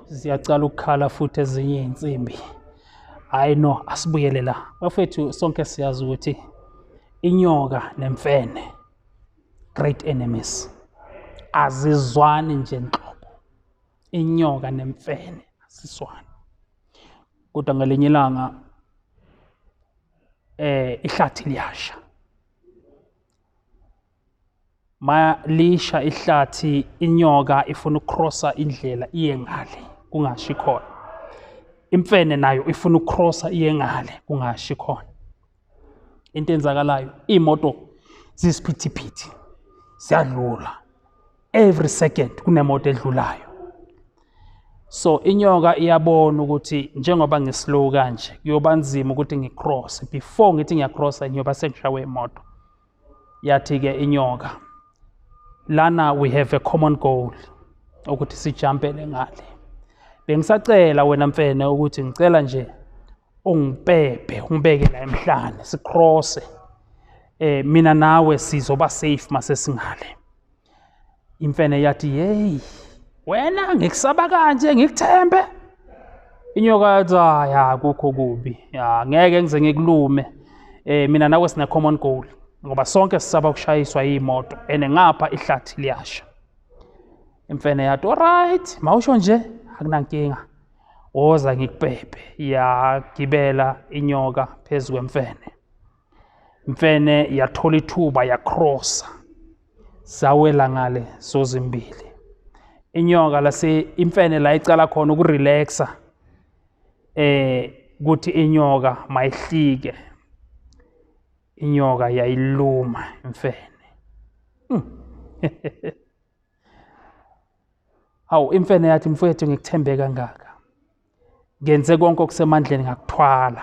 ziyacala ukukhala futhi ezinye iy'nsimbi hhayi no asibuyele la bafethu sonke siyazi ukuthi inyoka nemfene great enemies azizwani nje nhlobo inyoka nemfene azizwani kodwa ngelinye ilanga eh ihlathi liyasha malisha ihlathi inyoka ifuna ukukrosa indlela iye ngale kungashi khona imfene nayo ifuna ukukrosa iye ngale kungashi khona into enzakalayo iy'moto zisiphithiphithi ziyadlula every second kunemoto edlulayo so inyoka iyabona ukuthi njengoba ngislow kanje kuyoba nzima ukuthi ngicross before ngithi ngiyacrossa ngiyoba sengishawe imoto yathi-ke inyoka lana we have a common goal ukuthi sijampele ngale bengisacela wena mfene ukuthi ngicela nje ungibhebhe ungibeke la emhlane sikrose eh mina nawe sizoba safe masesingale imfene yathi yeyi wena ngikusaba kanje ngikuthembe inyoka yathi hayi akukho kubi ya ngeke ngize ngikulume eh mina nawe sine common goal ngoba sonke sisaba ukushayiswa iyimoto ene ngapha ihlathi liyasha imfene yathi alright mawusho nje akunankinga woza ngikubhebhe yagibela inyoka phezu kwemfene mfene yathola ithuba yakrosa zawela ngale zozimbili inyoka lase imfene la icala khona ukurelaxa eh kuthi inyoka mayihlike inyoka yayiluma imfene hmm. hawu imfene yathi mfowethu ngikuthembe kangaka ngenze konke okusemandleni ngakuthwala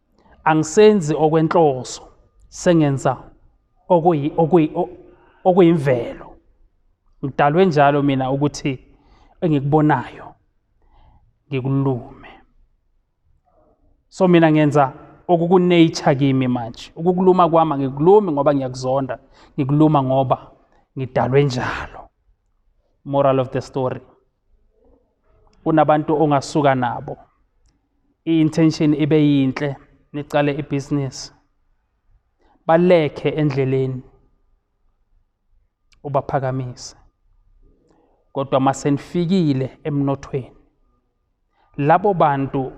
angisenzi okwenhloso sengenza okuyi okuyi okuyimvelo ngidalwe njalo mina ukuthi engikubonayo ngikulume so mina ngenza okukunature kimi manje ukukuluma kwami ngikulumi ngoba ngiyakuzonda ngikuluma ngoba ngidalwe njalo moral of the story kunabantu ongasuka nabo i-intention ibe yinhle niqale ibhizinisi balekhe endleleni ubaphakamise kodwa masenifikile emnothweni labo bantu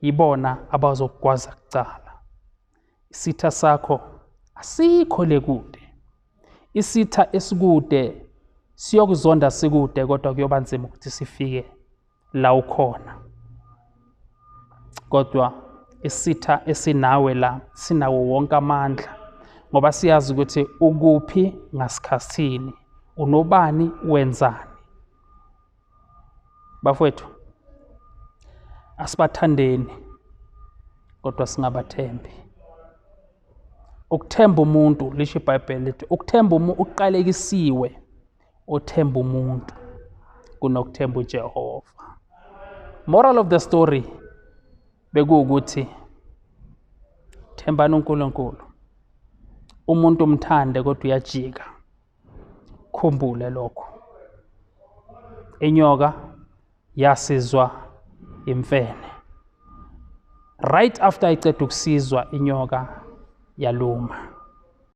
yibona abazokugwaza kucala isitha sakho asikho le kude isitha esikude siyokuzonda sikude kodwa kuyoba nzima ukuthi sifike la ukhona kodwa isitha esinawe la sinawo wonke amandla ngoba siyazi ukuthi ukuphi ngasikhathini unobani wenzani bafowethu asibathandeni kodwa singabathembi ukuthemba umuntu lisho ibhayibheli lithi ukuthemba umuntu uqalekisiwe othemba umuntu kunokuthemba uJehova moral of the story bekuwukuthi thembani uNkulunkulu umuntu umthande kodwa uyajika khumbule lokho inyoka yasizwa imfene right after iceda ukusizwa inyoka yaluma